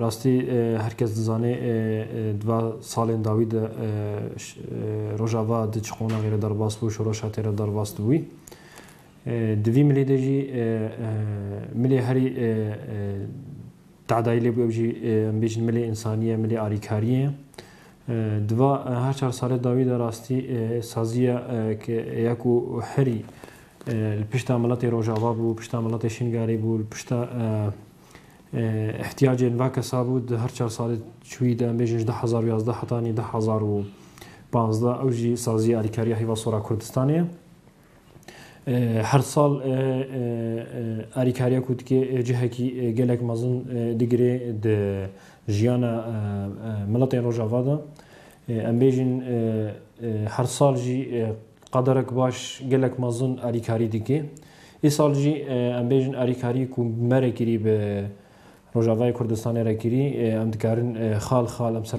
Rastî her kes dizane di va salên dawî de Rojava di çi qonaxê re derbas bû, şoreşa tê re derbas dibûy. Di vî milê de jî milê herî tedayî lêbû ew jî em bêjin milê însanî ye, milê arîkarî ye. Di va her çar salê dawî de rastî saziya ke ya ku herî li pişta miletê Rojava bû, pişta miletê Şingalê bû, li pişta Îhtîyacên va kesa bû di her çar salê çûyî de em bêjin ji du hezar û yazdeh heta nî du hezar û pazdeh ew jî sazîyê alîkariya Hêva Sora Kurdistanê ye. Her sal alîkariya ku dike cihekî gelek mezin digire di jiyana miletên Rojava de. Em bêjin her sal jî Qaderek baş gelek mezin alîkarî dike. Îsal jî em bêjin alîkarî ku me re kirî bi Rojavayê Kurdistanê re kirî em dikarin xal xal em ser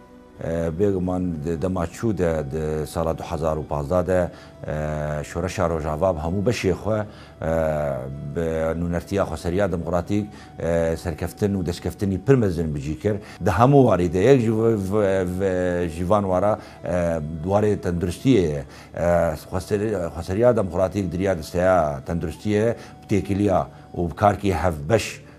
Bêguman di dema çû de, di sala du hezar û pazdeh de Şoreşa Rojava bi hemû beşê xwe bi nûnertiya xweseriya demokratîk serkeftin û destkeftinî pir mezin bi cî kir. Di hemû warî de yek ji van wara warê tenduristiyê ye. Xweseriya demokratîk di riya disteya tenduristiyê bi têkiliya û bi karkê hevbeş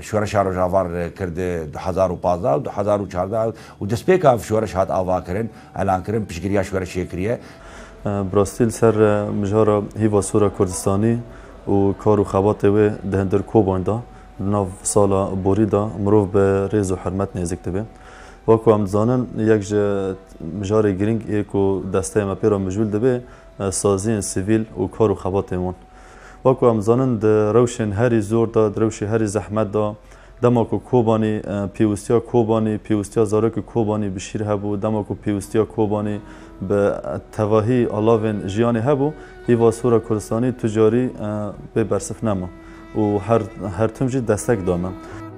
Şoreşa Rojava kir di du hezar û pazdeh û du hezar û çardeh de û destpêka ev şoreş hat avakirin, elankirin, piştgiriya şoreşê kiriye. Bi rastî li ser mijara hîva sor a Kurdistanî û kar û xebatê wê di hundir koban de di nav sala borî de mirov bi rêz û hurmet nêzik dibe. Wek ku em dizanin yek ji mijarê girîng ê ku desteyê me pê re mijûl dibe saziyên sivîl û kar û xebatên wan. Wek ku em dizanin di rewşên herî zor de, di rewşê herî zehmet de dema ku Kobanî pêwistiya Kobanî, pêwistiya zarokê Kobanî bi şîr hebû, dema ku pêwistiya Kobanî bi tevahî alavên jiyanê hebû, îva Sora Kurdistanî tu carî bê bersif nema û her tim jî destek da me.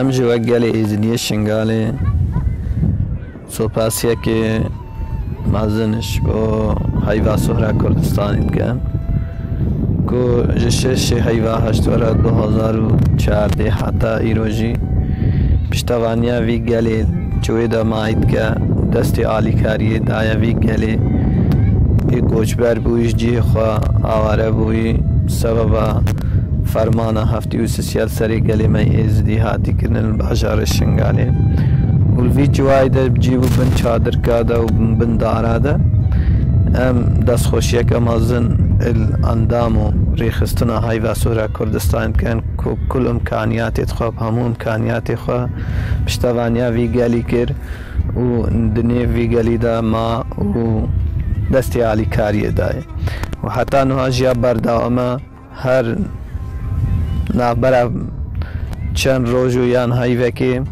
Em jî wek gelê Êzidiyê Şingalê sopasiyekê mezin ji bo heyva Sohra Kurdistanê dikin ku ji şeşê heyva heştwera du hezar û çardeh heta îro jî piştevaniya vî gelê ji wê demayî dike û destê alîkariyê daye vî gelê ê koçber bûyî ji cihê xwe aware bûyî sebeba fermana Tî û sisiyal serê gelê me Êzidî hatî kirin li bajarê Şingalê û li vî ciwayê de cî bû bin çadirka de û bin dara de. Em destxweşiyeke mezin li endam û rêxistina Hayva Sora Kurdistanê dikin ku kul imkaniyatê dixwe bi hemû imkaniyatê xwe piştevaniya vî gelî kir û di nêv vî gelî de ma û destê alîkariyê dayê û heta nuha jiya berdewam e. Her navbera çend roj û yan heyvekê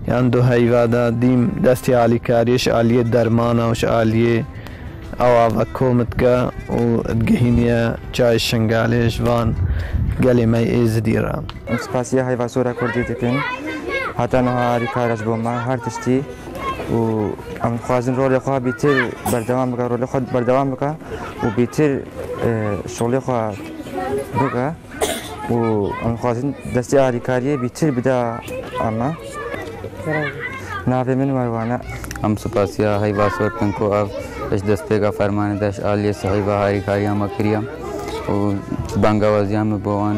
yan du heyva de dîm destê alîkariyê ji aliyê dermana û ji aliyê awa ve kom dike û digihîniye çayê Şingalê ji van gelê me yê Êzidî re. Em spasiya Heyvasora Kurdî dikin. Heta niha alîkar e ji bo me her tiştî. û em dixwazin rolê xwe bîtir berdewam bike rolê xwe berdewam bike û bîtir e, şolê xwe bike û em dixwazin destê alîkariyê bîtir bida eme navê min werwane em supasiya heyva sor bin ku ev ji destpêka fermanê deş aliyê sihîva harîkariya me kiriye û bangewazîya min bo wan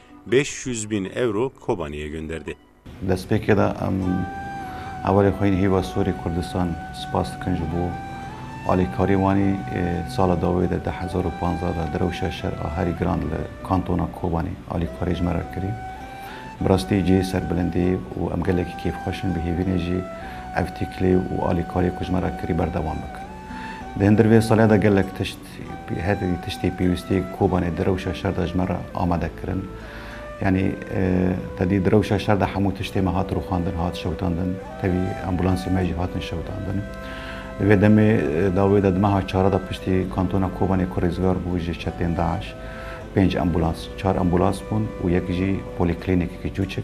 Beş yüz bin euro Kobani'ye gönderdi. Destpêkê de em hevalên xwe yên Hîva Sorê Kurdistan spas dikin ji bo alîkarî wan î sala dawê de deh hezar û panzdeh de di rewşa şer a herî giran li kantona Kobanî alîkarî ji me re kirî. Bi rastî cihê serbilindî ye û em gelekî kêfxweş in bihêvînê jî ev tîkilê û alîkariyê ku ji me re kirî berdewam bikin. Di hindirvê salê de gelek tişt Her tiştê pêwîstê Kobanê di rewşa şer de ji me re amade kirin. Yanî tevî di rewşa şer de hemû tiştê me hat rûxandin, hat şewitandin. Tevî ambûlansên me jî hatin şewitandin. Di vê demê dawê de di meha çara de piştî kantona Kobanê ku rêzgar bû ji çetên DAIŞ, pênc ambûlans, çar ambûlans bûn û yek jî polîklînîkeke çûçik.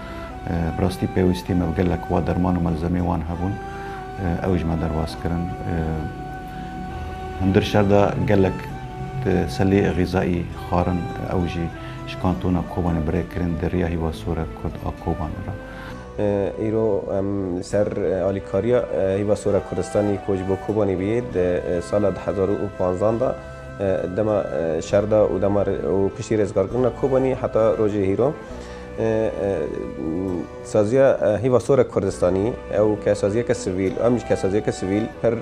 Bi rastî pêwîstî me bi gelek wa derman û melzemeyên wan hebûn, ew ji me derbas kirin. Hundir şer de gelek selê xîzayî xwarin ew jî ji kantona Kobanê bi rê kirin di riya Hîva Sore Kurd a Kobanê re. Îro em li ser alîkariya Hîva Sore Kurdistanî ku ji bo Kobanê bûye di sala du hezar û panzan de dema şer de û dema û piştî rêzgarkirina Kobanî heta rojê hîro, Saziya Hîva Sorek Kurdistanî ew kesaziyeke sivîl û em jî kesaziyeke sivîl pir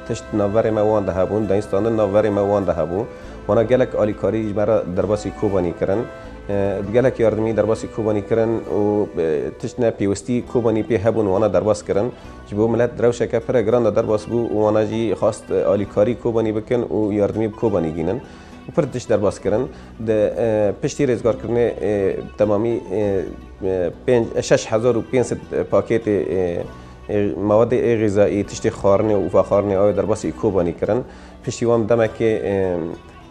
tişt navberê me wan de hebûn, dayînstandin navberê me wan de hebû. Wana gelek alîkarî ji me re derbasî Kobanî kirin. Bi gelek yardimî derbasî Kobanî kirin û tişt ne pêwistî Kobanî pê hebûn wana derbas kirin. Ji bo milet rewşeke pire giran de derbas bû û wana jî xwest alîkarî Kobanî bikin û yardimî bi Kobanî gînin. û pir tişt derbas kirin. Di piştî rêzgarkirinê bi temamî şeş hezar û pênc sed pakêtê mewedê ê xîzayî, tiştê xwarinê û vexwarinê awê derbasî Kobanî kirin. Piştî wan bi demekê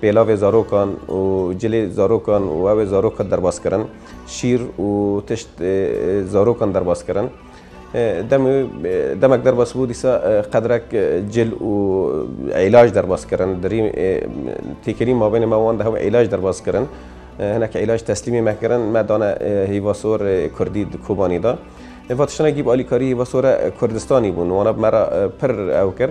pêlavê zarokan û cilê zarokan û awê zarokan derbas kirin. Şîr û tişt zarokan derbas kirin. Demê demek derbas bû dîsa qedrek cil û îlac derbas kirin. Dirî têkilî mabênê me wan de hev îlac derbas kirin. Hinek îlac teslîmê me kirin, me dane hîvasor Kurdî di Kobanî de. Eva tiştine gîb alîkarî hîvasora Kurdistanî bûn. Wana bi me re pir ew kir.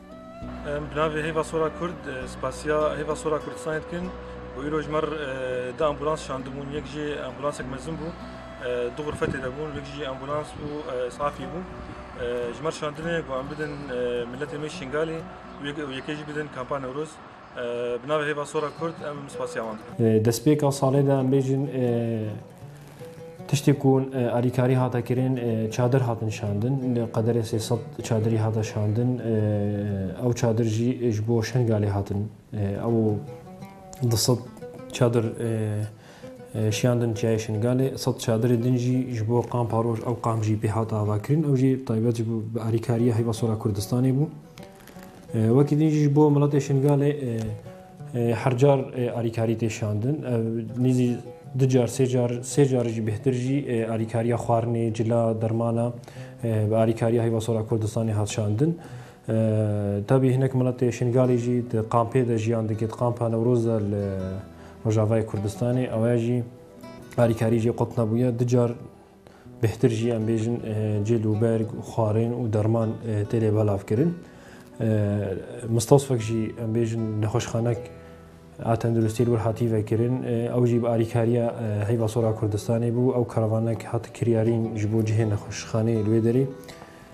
Em bi navê Hêva Sora Kurd spasiya Hêva Sora Kurdistanê dikin û îro ji mer di ambulans şandibûn yek jî ambulansek mezin bû du xurfetê de bûn yek jî ambulans û isafî bû ji mer şandinê ku em bidin miletê me Şingalê û yekê jî bidin kampa Newroz bi navê Hêva Sora Kurd em spasiya wan dikin. Destpêka salê de em bêjin Tiştê ku alîkarî hate kirin çadir hatin şandin li qederê sê sed çadirî hate şandin ew çadir jî ji bo Şengalê hatin ew di sed çadir şiyandin çiyayê Şengalê sed çadirê din jî ji bo qampa roj ew qamp jî pê hate avakirin ew jî taybet ji alîkariya heyva sora Kurdistanê bû. Wekî din jî ji bo miletê Şingalê her car alîkarî tê şandin. Ev nîzî du car sê car sê car jî bêhtir jî alîkariya xwarinê, cila, dermana bi alîkariya Heyva Sor a Kurdistanê hat şandin. Tabî hinek miletê Şingalê jî di kampê de jiyan dike di kampa Newroz de li Rojavayê Kurdistanê. Ew jî alîkarî jê qut nebûye. Du car Bêhtir jî em bêjin cil û berg û xwarên û derman tê lê belavkirin. Mistosfek jî em bêjin nexweşxanek a tenduristiyê li wir hatî vekirin. Ew jî bi alîkariya Heyva Sora Kurdistanê bû. Ew karavanek hat kiryarîn ji bo cihê nexweşxaneyê li wê derê.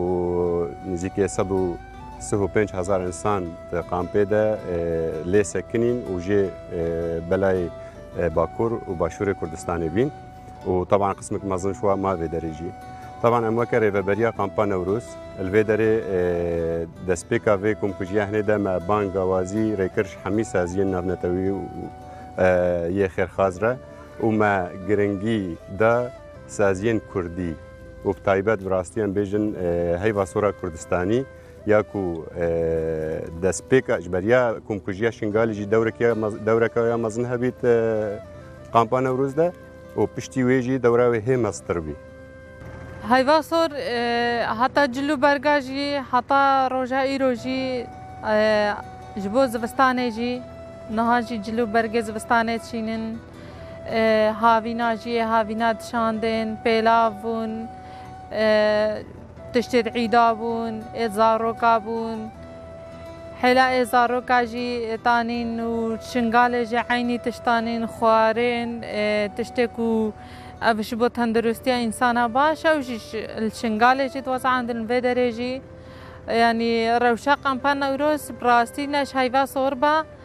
û nêzîkî sed û sih û pênc hezar însan di kampê de lê sekinîn û jê belayê Bakur û Başûrê Kurdistanê bîn û teban qismekî mezin ji wan ma vê derê jî. Teban em weke rêveberiya kampa Newrûz li vê derê destpêka vê komkujiya hinê de me bang gawazî rêkir ji hemî saziyên navnetewî û yê xêrxaz re û me giringî da, Saziyên kurdî û bi taybet bi rastî em bêjin heyva sora kurdistanî ya ku destpêka ji beriya komkujiya Şingalî jî dewreka ya mezin hebît kampa Newroz de û piştî wê jî dewra wê hê meztir bî. Heyva sor heta cil û berga jî heta roja îro jî ji bo zivistanê jî niha jî cil û bergê zivistanê çînin. Havîna jî yê havîna dişandin, pêlav bûn, tiştê di îda bûn, ê zaroka bûn. Hêla ê zaroka jî tanîn û şingalê jî eynî tiştan in, xwarên, tiştê ku ev ji bo tendirustiya însana baş e û jî li şingalê jî dixwazin andin li vê derê jî. Yanî rewşa qampa Newroz bi rastî ne ji heyva sor be.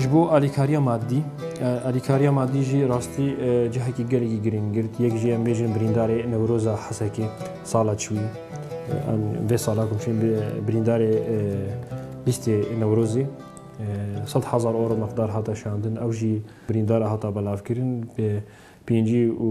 Ji bo alîkariya madî, alîkariya madî jî rastî cihekî gelekî girîng girt. Yek jî em bêjin birîndarê Newroza Hesekê sala çûyî. Em vê sala komşîn birîndarê lîstê Newrozê sed hezar euro miqdar hate şandin. Ew jî birîndara hata belavkirin bi pêncî û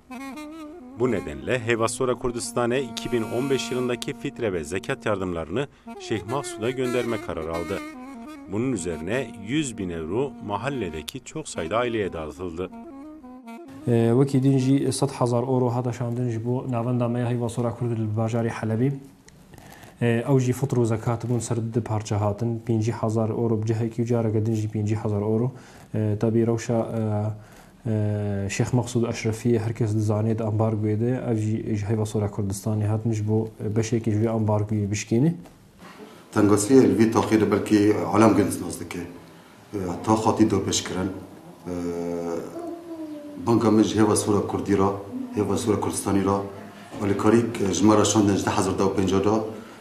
Bu nedenle hêva sora Kurdistane iki bin on beş yılındaki fitre ve zekat yardımlarını Şeyh Mahsud'a gönderme kararı aldı. Bunun üzerine yüz bin euro mahalledeki çok sayıda aileye dağıtıldı. Wekî din jî sed hezar euro hata şandin ji bo navenda me ya hêva sora Kurd li bajarê Helebê. Ew jî fitr û zekat bûn ser du parçe hatin. Pêncî hezar euro bi cihekî û careke din jî pêncî hezar euro. Tevî rewşa Şêx Mexsûd Eşrefiyê her kes dizanê di ambargoyê de ye, ev jî ji heyva Sora Kurdistanê hatin ji bo beşekê ji vê ambargoyê bişkêne. Tengasiyê li vê taxê de belkî alem gelî nas dike. Tax hatî dapêşkirin. Banga min ji hêva Sora Kurdî re, hêva Sora Kurdistanî re alîkarî ji me re şandin ji du hezar du û pêncî de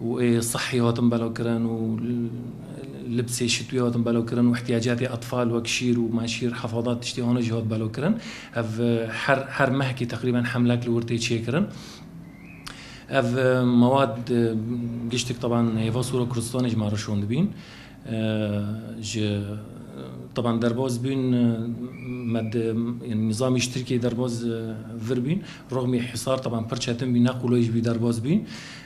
Wê sihî hatin belavkirin û libsê şitwî hatin belavkirin û îhtîyacatê etfal wek şîr û menşîr hefadat tiştê wana jî hat belavkirin. Ev her her mehkî teqrîben hemlek li wir tê çêkirin. Ev mewad giştik taban hêva Sûra Kurdistanê ji me re şon dibîn. Ji taban derbas bûn me di yanî nîzamî ji Tirkiyeyê derbas vir bûn. Rixmî hîsar taban pir çetin bû ne qulay jî bû derbas bûn.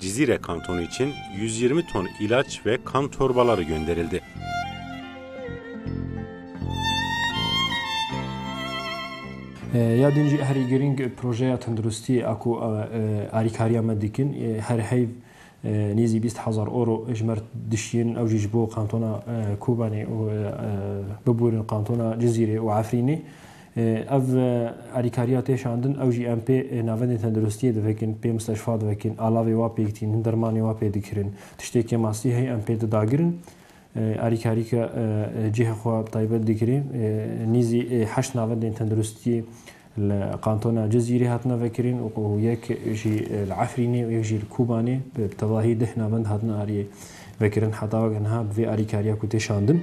Cizîre Kanton için 120 ton ilaç ve kan torbaları gönderildi. Ya din jî herî girîng projeya tenduristiyê a ku alîkariya me dikin her heyv nêzî bîst hezar euro ji mer dişiyên ew jî ji bo kantona Kobanê û bibûrin kantona Cizîrê û Efrînê. Ev alîkariya tê şandin, ew jî em pê navendên tenduristiyê divekin, pê misteşfa divekin, alavê wa pêk tînin, dermanê wa pê dikirin. Tiştêkê mastî heye em pê di dagirin. Alîkarîka cihê xwe taybet dikirê. Nîzî heşt navendên tenduristiyê li kantona Cizîrê hatine vekirin û yek jî li Efrînê û yek jî li Kûbanê bi tevahî deh navend hatine aliyê vekirin. Heta weke niha bi vê alîkariya ku tê şandin.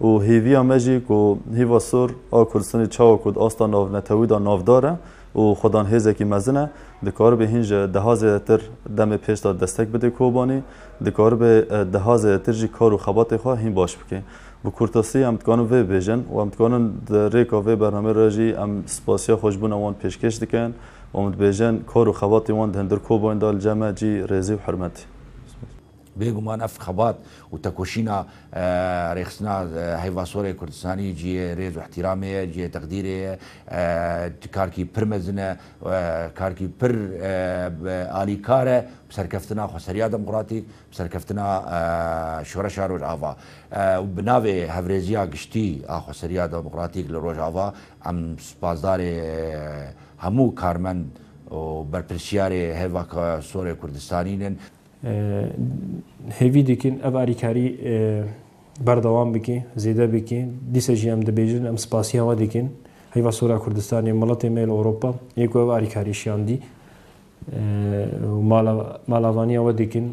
Û hêviya me jî ku hêva sor a Kurdistanê çawa ku di asta navnetewî de navdar e û xwedan hêzekî mezin e, dikaribe hîn ji deha zêdetir demê pêş de destek bide Kobanî, dikaribe deha zêdetir jî kar û xebatê xwe hîn baş bike. Bi kurtasî em dikarin vê bibêjin û em dikarin di rêka vê bernameyê re jî em spasiya xweşbûna wan pêşkêş dikin û em dibêjin kar û xebatê wan di hundir Kobanî de li cem e cî rêzî û hirmetî. Bêguman ev xebat û tekoşîna rêxistina heyvasorê Kurdistanî cihê rêz û îhtîramê ye, cihê teqdîrê ye. Karkî pir mezin e, karkî pir alîkar e bi serkeftina xweseriya demokratîk, bi serkeftina şoreşa Rojava. Bi navê hevrêziya giştî a xweseriya demokratîk li Rojava em spasdarê hemû karmend û berpirsiyarê heyvasorê Kurdistanî ne. Hêvî dikin ev alîkarî berdewam bike, zêde bike. Dîsa jî em dibêjin, em spasiya we dikin. Heyva Sora Kurdistanê, miletê me li Ewropa yê ku ev alîkarî şiyandî û malavaniya we dikin.